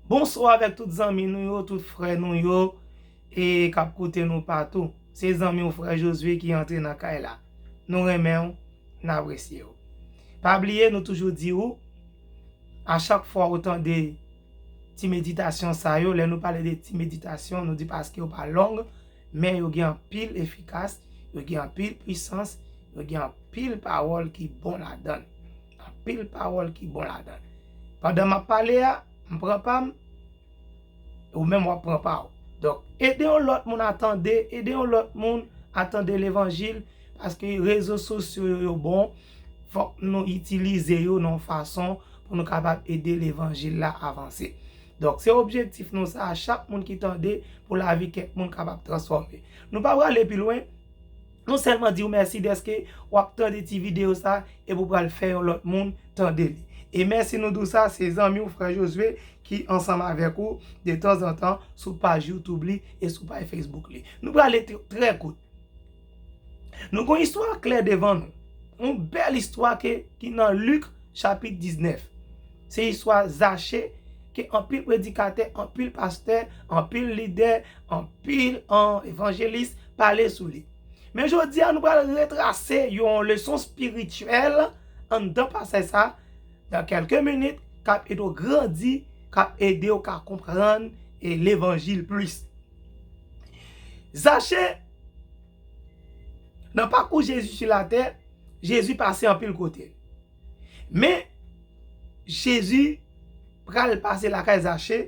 Bonswa avèk tout zanmi nou yo, tout frè nou yo e kap koute nou patou. Se zanmi w frè Josué ki antre nan kay la. Nou renmen w, n apresye w. Pa bliye nou toujou di ou, a chak fwa ou tande ti meditasyon sa yo, lè nou pale de ti meditasyon nou di paske yo pa long, men yo gen anpil efikas, yo gen anpil pwisans, yo gen anpil pawòl ki bon ladan. Anpil pawòl ki bon ladann. Pandan map pale a, m pran pa m, e ou menm wap pran pa ou. Donk, ede yon lòt moun a tande, ede yon lòt moun a tande levanjil, paske rezo sosyo yo yo bon, fòk nou itilize yo nan yon fason pou nou kapab ede levanjil la avanse. Donk, se objektif nou sa a, chak moun ki tande, pou lavi kèk moun kapab transfòme. Nou pa prale pi lwen. Nou sèlman di w mèsi dèske w ap tande ti videyo sa epi w pral fè yon lòt moun tande li. E mèsi nou di w sa, se zanmi w frè Josué ki ansanm avèk ou detanzantan sou paj youtube li e sou pay facebook li. Nou pral ete trè kout. Nou gon istwa klè devan nou. Yon bèl istwa ke ki nan Luc chapit 19. Se istwa Zache ke anpil predikatè, anpil pastè, anpil lidè, anpil evanjelis, pale sou li. Men jodi a nou pral retrase yon leson spirityèl anndan pasaj sa nan kelke minit kap ede w grandi, kap ede w ka konprann levanjil plis. Zache, nan pakou Jezi sou latè, Jezi pase anpil kote. Men Jezi pral pase lakay Zache.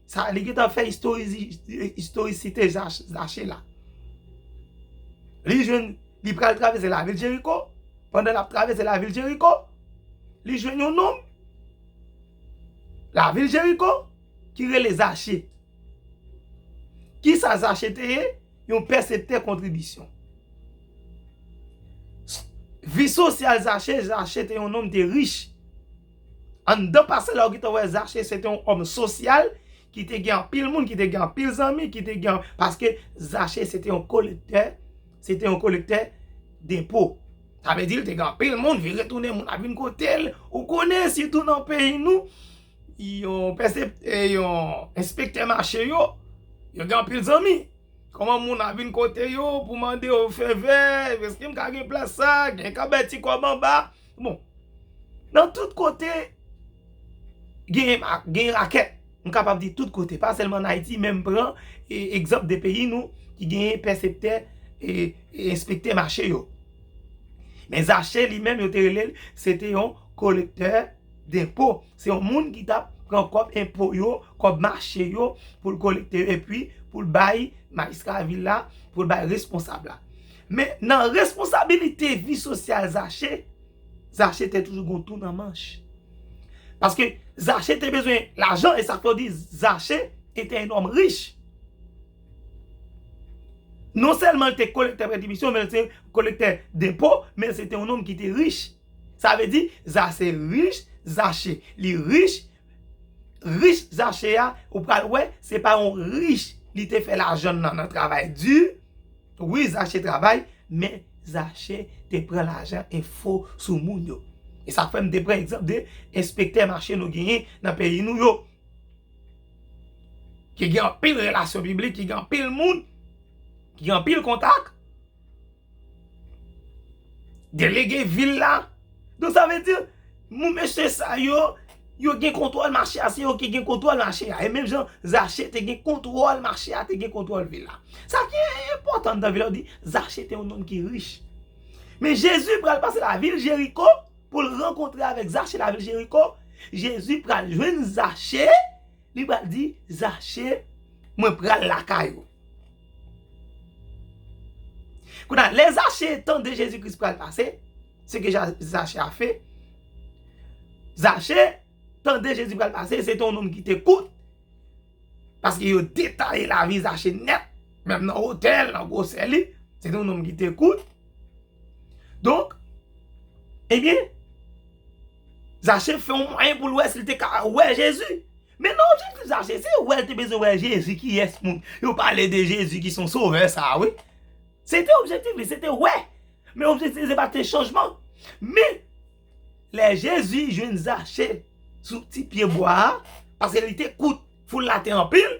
Sa li gentan fè istorisite Zache la. Li jwenn, li pral travèse lavil Jeriko, pandan lap travèse lavil Jeriko, li jwenn yon nonm lavil Jeriko ki rele Zache. Kisa Zache te ye? Yon pèseptè kontribisyon. Vi sosyal Zache, Zache te yon nonm te rich. Anndan pase la ou gentan wè Zache se te yon òm sosyal ki te gen anpil moun, ki te gen anpil zanmi, ki te gen, paske Zache se te yon kolektè, se te yon kolektè denpo. Sa vle di li te gen anpil moun, vire tounen moun ap vin kote l. Ou konnen sitou nan peyi nou, yon pèsep, yon enspektè mache yo, yo gen anpil zanmi. Kòman moun ap vin kote yo pou mande yo fevè, èske m ka gen plas sa, gen ka bay ti kòb anba. Bon, nan tout kote gen rakèt, m kapab di tout kote, pa sèlman an Ayiti, men m pran egzanp de peyi nou ki gen pèseptè e enspektè mache yo. Men Zache li menm yo te rele l, se te yon kolektè denpo. Se yon moun ki tap pran kòb enpo yo, kòb mache yo pou l kolekte yo epi pou l bay majistra vil la, pou l bay responsab la. Men nan responsabilite vi sosyal Zache, Zache te toujou gon tou nan manch. Paske Zache te bezwen lajan e sa fè w di Zache ete yon nonm rich. Non sèlman l te kolektè prè dimisyon men l te kolektè denpo men l se te yon nonm ki te rich. Sa vle di Zache rich, Zache li rich Rich zache a ou pral wè se pa yon rich li te fè lajann nan nan travay di wi zache travay men zache te pran lajan enfo sou moun yo e sa fèm te pran egzanp de enspektè mache nou genyen nan peyi nou yo ki gen anpil relasyon piblik ki gen anpil moun ki gen anpil kontak. Delege vil la. Donk sa vle di, moun mesye sa yo, yo gen kontwòl mache a, se yo ki gen kontwòl mache a. E menm jan Zache te gen kontwòl mache a, te gen kontwòl vil la. Sa ki enpòtan anndan vil la, yo di, Zache te yon nonm ki rich. Men Jezi pral pase lavil Jeriko pou l rankontre avèk Zache lavil Jeriko. Jezi pral jwenn Zache. Li pral di zache mwen pral lakay ou. Kou nan le zache tande jezi kris pral pase, se ke zache a fe, zache tande jezi pral pase, se ton nom ki te kout, paske yo detaye la vi zache net, menm nan hotel, nan gwo seli, se ton nom ki te kout, donk, e eh byen, Zache fè yon mwayen pou l wè si l te ka wè Jezi. Men nan objektif Zache, se wè l te bezwen wè Jezi kiyès moun yo pale de Jezi ki se yon sovè sa a wi. Se te objektif li, se te wè. Men objektif li se pa te chanjman. Men, lè Jezi jwenn Zache sou ti pyebwa a, paske li te kout, foul la te anpil,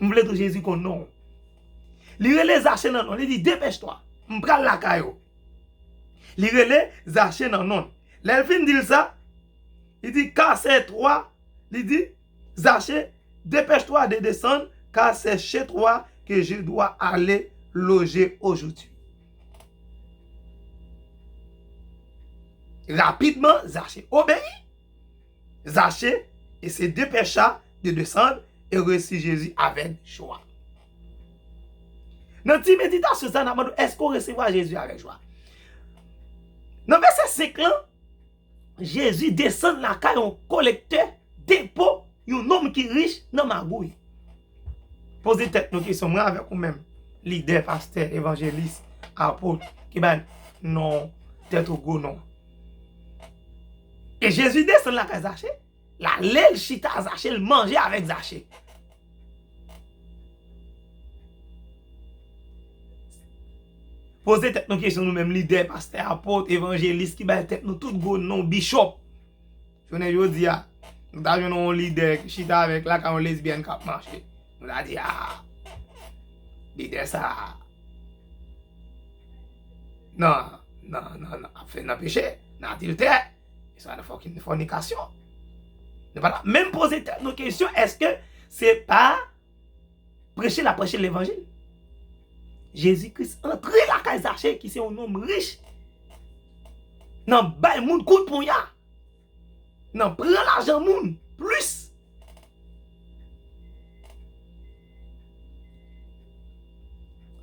M vle tou Jezi konn non w. Li rele Zache nan non l, li di, Depèch twa, m pral lakay ou. Li rele Zache nan non l. Lè l fin di l sa, li di, Kase twa, li di, Zache, depèch twa de desann, ka se che twa ke je dwa ale loje ojodi. Rapidman, Zache obeyi. Zache, e se depecha yo desann e resi Jezi avèk jwa. Nan ti meditasyon sa nan mande èske ou resevwa Jezi avèk jwa. Nan vèsè 5 lan, Jezi desann lakay yon kolektè depo yon nonm ki rich nan magouy. Poze tèt nou kesyon, mwen avèk ou menm, lidè, pastè, evanjelis, apot, ki bay non tèt ou gwo non. E Jezi desann lakay Zache, l ale l chita a Zache, l manje avèk Zache. Poze tèt nou kesyon nou menm, lidè, pastè, apot, evanjelis, ki bay tèt nou tout gwo non, bichòp. Jounen jodi a, nou ta jwenn yon lidè ki chita avèk lakay yon lesbyèn k ap mache. Nou ta di a, lidè sa a, nan, nan, nan, nan, ap fè nan peche, nan adiltè, e sa nan fòkinn fònikasyon. Nou pa ta menm poze tèt nou kesyon eske se pa preche l ap preche levanjil. Jezi Kris antre lakay Zache ki se yon nonm rich, nan bay moun kout ponya. Nan pran lajan moun plis.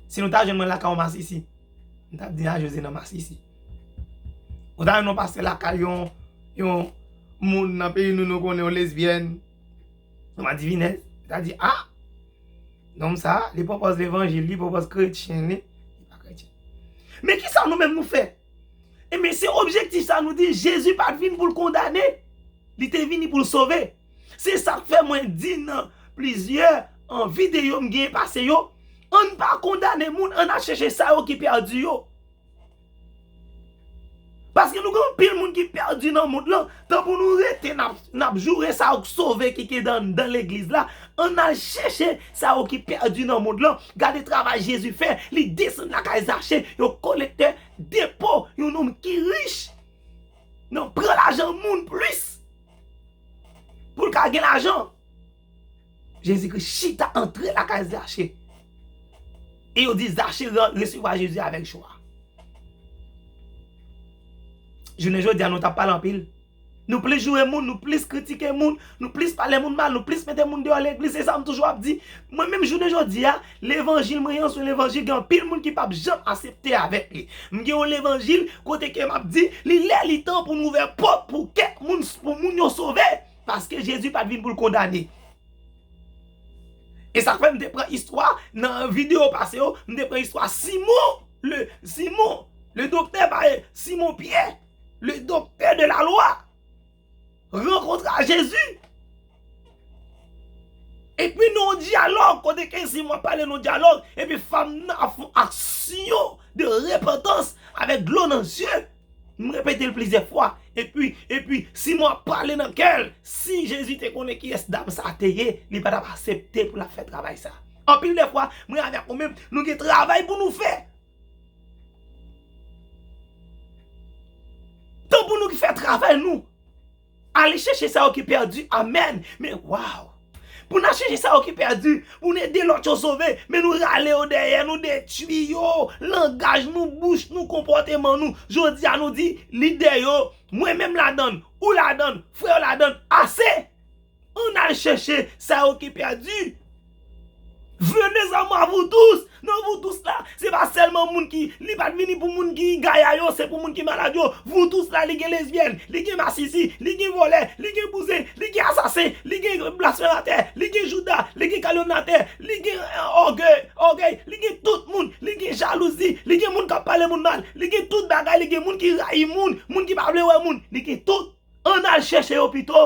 Si nou ta jwenn mwen lakay yon masisi. M tap di a jezi nan masisi. Ou ta jwenn yon pastè lakay yon yon moun nan peyi nou nou konnen yon lesbyèn. Yon madivinèz. Ou ta di a. Nonm sa li pwopòz levanjil li pwopòz kretyen li. Li pa kretyen. Men kisa nou menm nou fè? Enben, se objektif sa nou di Jezi pa t vin pou l kondane, li te vini pou l sove. Se sa k fè mwen di nan plizyè videyo m genyen pase yo, ann pa kondane moun, ann al chèche sa yo ki pèdi yo. Paske nou gen anpil moun ki pèdi nan mond lan, tan pou nou rete n ap joure sa yo k sove ki gen anndan legliz la, ann al chèche Sa yo ki pèdi nan mond lan, gade travay Jezi fè, li desann lakay Zache, yon kolektè denpo, yon nonm ki rich nan pran lajan moun plis pou l ka gen lajan. Jezi Kris chita antre lakay Zache e yo di Zache resevwa Jezi avèk jwa. Jounen jodi a nou ta pale anpil. Nou plis joure moun, nou plis kritike moun, nou plis pale moun mal, nou plis mete moun deyò legliz, se sa m toujou ap di. Mwen menm jounen jodi a, levanjil mwen an se yon levanjil gen anpil moun ki pap janm asepte avèk li. M gen yon levanjil kote ke m ap di li lè li tan pou nou ouvè pòt pou kè moun, pou moun yo sove, paske Jezi pat vin pou l kondane. E sa k fè m te pran istwa nan videyo pase yo, m te pran istwa Simon le Simon le doktè pa e Simon Pyè. Le doktè de la lwa rankontre a Jezi. Epi nou an dyalòg, kote ke zi mwen pale nou dyalòg, epi fanm nan ap fon aksyon de repantans avèk dlo nan zye. Mwen repete l plizyè fwa. Epi, epi, si mwen ap pale nan kè l, si Jezi te konnen ki yès dam sa te ye, li pa t ap asepte pou l ap fè travay sa. Anpil de fwa, mwen avèk ou menm, nou gen travay pou nou fè. Tan pou nou fè travay nou. Ale chèche sa yo ki pèdi, amèn, men waw. Pou nan chèche sa yo ki pèdi, pou nou ede lòt yo sove, men nou rale yo dèyè, nou detwi yo, langaj nou, bouch nou, konpòteman nou. Jodi a nou di, lidè yo, mwen menm ladann, ou ladann, frè yo ladann, ase! Ann al chèche sa yo ki pèdi. Venez à moi vous tous, nan vous tous la, se pa sèlman moun ki, li pa t vini pou moun ki gaya yo, se pou moun ki malad yo, vous tous la li gen lesbyèn, li gen masisi, li gen vòlè, li gen bouzen, li gen asasen, li gen blasfèmatè, li gen jouda, li gen kalyomnatè, li gen ògèy, li gen tout moun, li gen jalouzi, li gen moun k ap pale moun mal, li gen tout bagay, li gen moun ki rayi moun, moun ki pa vle wè moun, li gen tout. Ann al chèche yo pito.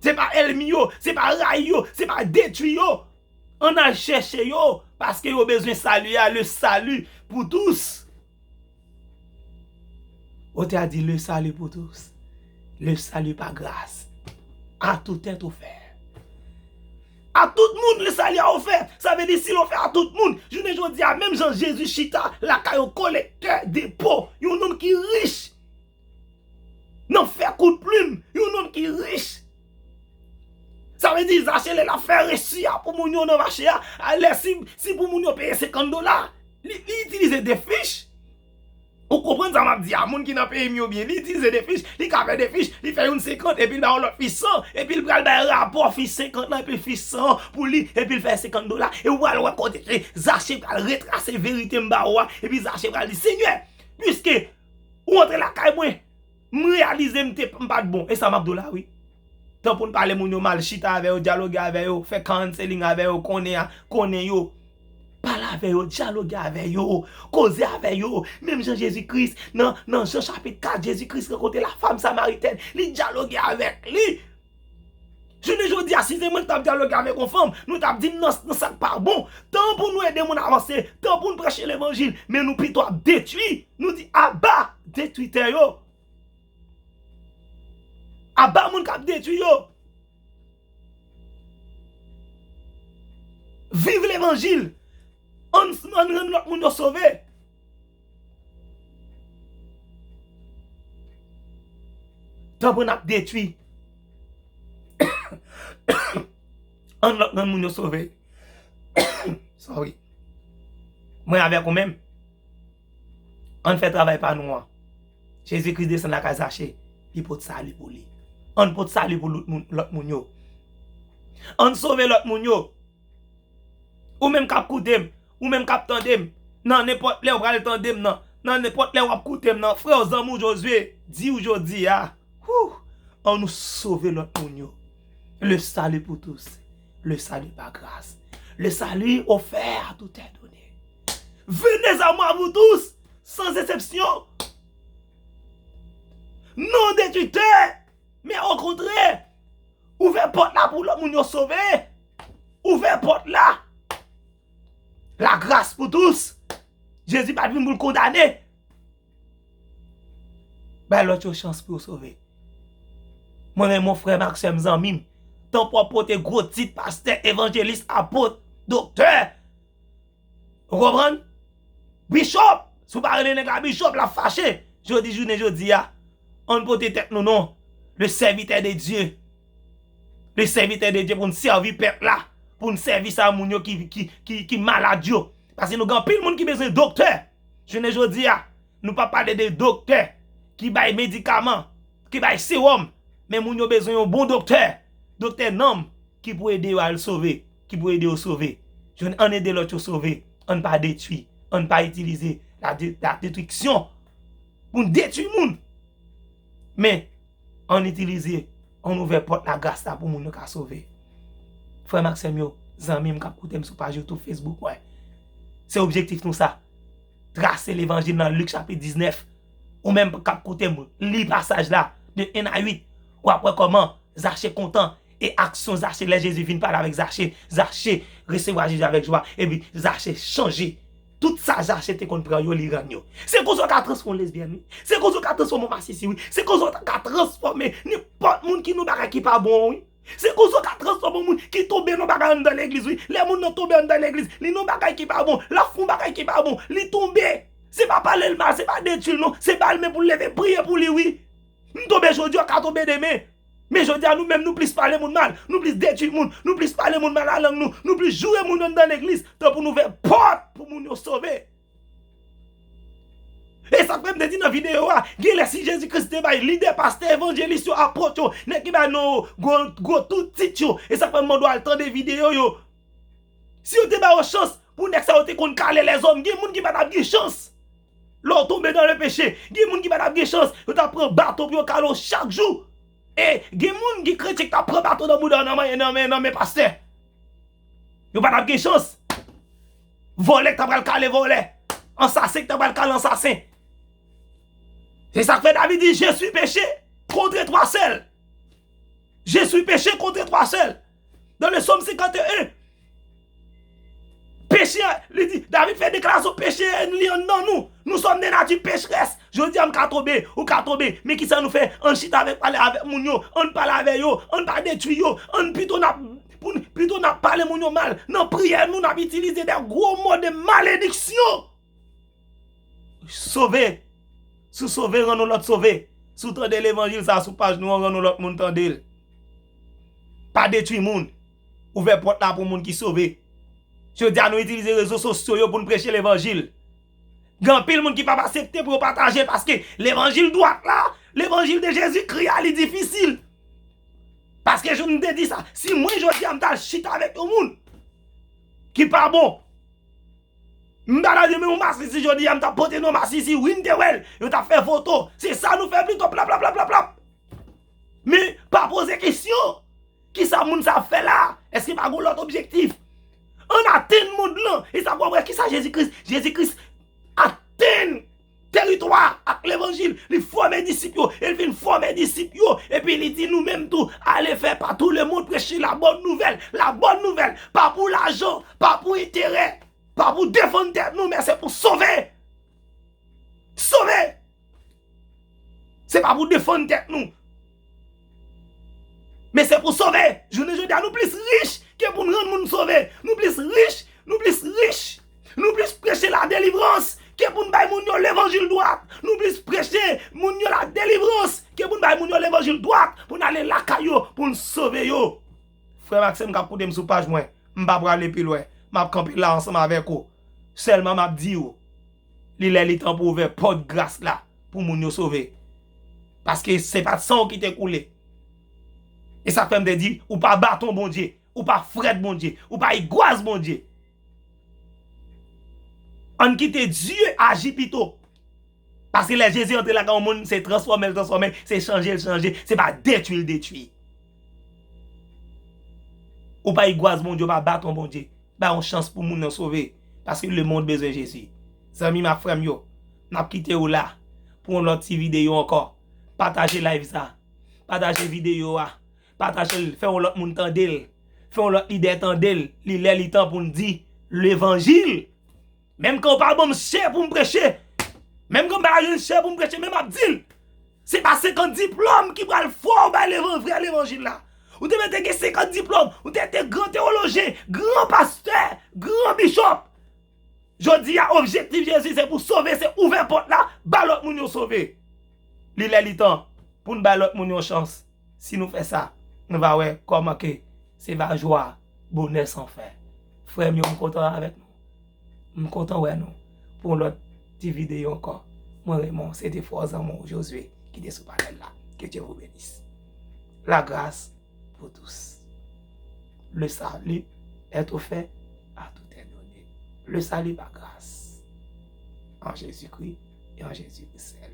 Se pa elmi yo, se pa rayi yo, se pa detwi yo. Ann al chèche yo paske yo bezwen sali a, le sali pou tous. Otè a di le sali pou tous, le sali pa gras, a tout tèt ou fè. A tout moun le sali a ou fè. Sa vle di si yo fè a tout moun, jounen jodi a menm jan Jezi chita lakay yon kolektè depo, yon nonm ki rich. Nan fè kout plim yon nonm ki rich. Sa vle di zache lè lap fè resi a pou moun yo nan mache a, lè si pou moun yo peye 50 dola, li itilize 2 fich. Ou konprann sa map di a, moun ki nan peyi m yo byen, li itilize 2 fich, li ka fè 2 fich, li fè youn 50 epi l bay yon lòt fich 100, epi l pral bay rapò fich 50 lan epi fich 100 an pou li epi l fè 50 dola e ou pral wè kote ke zache pral retrase verite m ba ou a epi zache pral di senyè, pwiske. Ou antre lakay mwen, m reyalize m te m pat bon, e sa map di w la wi. Tan pou n pale moun yo mal, chita avè yo, dyaloge avè yo, fè counseling avè yo, konnen a, konnen yo. Pale avè yo, dyaloge avè yo, koze avè yo, menm jan Jezi Kris nan nan Jan chapit 4, Jezi Kris rankontre la fam samaritèn, li dyaloge avèk li. Jounen jodi a si se mwen ki tap dyaloge avèk yon fanm, nou tap dim nan sak pa bon. Tan pou nou ede moun avanse, tan pou nou preche levanjil, men nou pito ap detwi, nou di aba detwitè yo. Aba moun kap detwi yo. Viv levanjil, ann rann lòt moun yo sove. Tanpri n ap detwi. Ann lòt nan moun yo sove. Sorry. Mwen avèk ou menm. Ann fè travay pa nou an. Jezi Kris desann lakay Zache, li pot sali pou li. Ann pot sali pou lòt moun yo. Ann sove lòt moun yo. Ou menm kap koute m, ou menm kap tande m, nan nenpòt lè ou pral tande m nan, nan nenpòt lè wap koute m nan, frè w zanmi w Josué di w jodi a, hoo, an nou sove lòt moun yo. Le salut pour tous, le salut par grace, le salut offert à tout être donné. Venez à moi vous tous, sans exception, non de tutè, men okontrè, Ouvè pòt la pou lòt moun yo sove. Ouvè pòt la. La gras pou tous. Jezi pat vin pou l kondane. Bay lòt yo chans pou yo sove. Mwen men mon frè m ak sè m zanmi m. Tanpò pote gwo tit pastè, evanjelis, apot, doktè. Ou konprann? Bishop! Si w pa rele nèg la Bishop, l ap fache. Jodi jounen jodi a, an n pote tèt nou non. Le Sèvitè de Dye. Le Sèvitè de Dye pou n sèvi pèp la. Pou n sèvi sa moun yo ki malad yo. Paske nou gen anpil moun ki bezwen doktè. Jounen jodi a, nou pa pale de doktè ki bay medikaman, ki bay sewòm. Men moun yo bezwen yon bon doktè. Doktè nanm ki pou ede yo al sove. ki pou ede yo sove, jwenn ann ede lòt yo sove, ann pa detwi, ann pa itilize la detriksyon pou n detwi moun, men ann itilize, ann ouvè pòt lagras la pou moun yo ka sove. Frè m ak sè m yo, zanmi m k ap koute m sou paj YouTube, Facebook mwen, se objektif nou sa, trase levanjil nan Lik chapit 19, ou menm k ap koute m, li pasaj la de 1 a 8, w ap wè kòman Zache kontan. E aksyon Zache lè Jezi vin pale avèk Zache, Zache resevwa Jezi avèk jwa, epi Zache chanje. Tout sa Zache te konn pran yo, li rann yo. Se konsa w ka transfòme yon lesbyèn wi. Se konsa w ka transfòme yon masisi wi. Se konsa w ka transfòme nenpòt moun ki nan yon bagay ki pa bon an wi. Se konsa w ka transfòme yon moun ki tonbe nan yon bagay anndan legliz wi. Lè moun nan tonbe anndan legliz, li nan yon bagay ki pa bon, l ap fè yon bagay ki pa bon, li tonbe. Se pa pale l mal, se pa detui l non, se ba l men pou l leve, priye pou li wi. M tonbe jodi a, w ka tonbe demen. Men jodi a nou menm nou plis pale moun mal, nou plis detwi moun, nou plis pale moun mal a lang nou, nou plis joure moun anndan legliz tan pou n ouvè pòt pou moun yo sove. E sa k fè m te di nan videyo a, gen lè si Jezi Kris te bay lidè, pastè, evanjelis yo, apot yo, nèg ki bay non yo gwo gwo tout tit yo, e sa k fè m mande w al tande videyo yo, si yo te ba yo chans pou nèg sa yo te konn kale lèzòm, gen moun ki pa t ap gen chans. Lè w tonbe nan le peche, gen moun ki pa t ap gen chans, yo t ap pran baton pou yo kale w chak jou. E, gen moun ki kretyen ki t ap pran baton nan bouda w nan men pastè. Yo pa t ap gen chans. Vòlè ki t ap pral kale vòlè. Ansasen ki t ap pral kale ansasen. Se sa k fè David di, Je suis peche kontre twa sèl. Je suis peche kontre twa sèl. Dans le Somme 51, peche a, li di, David fè deklarasyon peche a li anndan nou. Nou sòm de nati pecherès. Jodi a m ka tonbe, ou ka tonbe. Men ki sa nou fè? Ann chita avèk pale avèk moun yo, ann pale avè yo, ann pa detwi yo, ann pito n ap pou n pito n ap pale moun yo mal. Nan priyè nou n ap itilize de gwo mo de malediksyon. Sove Si w sove, rann yon lòt sove. Si w tande levanjil sa a sou paj nou an, rann yon lòt moun tande l. Pa detwi moun. Ouvè pòt la pou moun ki sove. Jodi a nou itilize rezo sosyo yo pou n preche levanjil. Gen anpil moun ki pap asepte pou yo pataje paske levanjil dwat la, levanjil de Jezikri a li difisil. Paske jan m te di sa, si mwen jodi a m ta al chita avèk yon moun ki pa bon. M ta nan renmen yon masisi jodi a m ta pote non masisi wi m te wèl yo tap fè foto se sa nou fè pito plaplaplaplaplap men pa poze kesyon kisa moun sa ap fè la èske pa gon lòt objektif ann atenn mond lan e sa pou wè kisa jezi kris jezi kris atenn Teritwa ak levanjil, li fòme disip yo, e li fin fòme disip yo, epi li di nou menm tou, ale fè pa tou le mond preche la bòn nouvèl, la bòn nouvèl, pa pou lajan, pa pou enterè, pa pou defann tèt nou, men se pou sove, sove, se pa pou defann tèt nou. Men se pou sove! Jounen jodi a nou plis rich ke pou n rann moun sove. Nou plis rich, nou plis rich, nou plis preche ladelivrans ke pou n bay moun yo levanjil dwat. Nou plis preche moun yo ladelivrans ke pou n bay moun yo levanjil dwat pou n ale lakay yo pou n sove yo. Frè m ak sè m k ap koute m sou paj mwen, m pa prale pi lwen. M ap kanpe la ansanm avèk ou. Sèlman m ap di ou. Li lè li tan pou ouvè pòt gras la pou moun yo sove. Paske se pat san w ki te koule. E sa k fè m te di, ou pa baton Bondye, ou pa frèt Bondye, ou pa igwaz Bondye. An n kite Dye aji pito. Paske lè Jezi antre lakay yon moun, se transfòme l transfòme, se chanje l chanje, se pa detwi l detwi. Ou pa igwaz Bondye ou pa baton Bondye bay yon chans pou moun nan sove paske le mond bezwen Jezi zanmim ak frèm yo map kite ou la pou yon lòt ti videyo ankò pataje live sa pataje videyo a patajel fè yon lòt moun tandel fè yon lòt lidè tandel li lè li tan poun di levanjil. Menm kan ou pa banm chè poum preche, menm kan ou pa ba jwenn chè poum preche men map dil, se pa 50 diplòm ki pral fèw bay levan vrè levanjil la. Ou te mèt gen 50 diplòm, ou te te gran tewolojyen, gran pastè, gran bishop. Jodi a objektif Jezi se pou sove se ouvè pòt la ba lòt moun yo sove. Li lè li tan poun bay lòt moun yon chans. Si nou fè sa, nou va wè kòman ke se va jwa, bonè san fen. Frè m yo, m kontan avèk nou. M kontan wè nou pou yon lòt ti videyo ankò. Mwen Raymond, se te fo zanmi w Josué ki te sou panèl la. Ke Dye vou benis. La gras pou tous. Le sali èt ofè a tou tè done. Le sali pa gras. An Jezikri e an Jezikri sèl.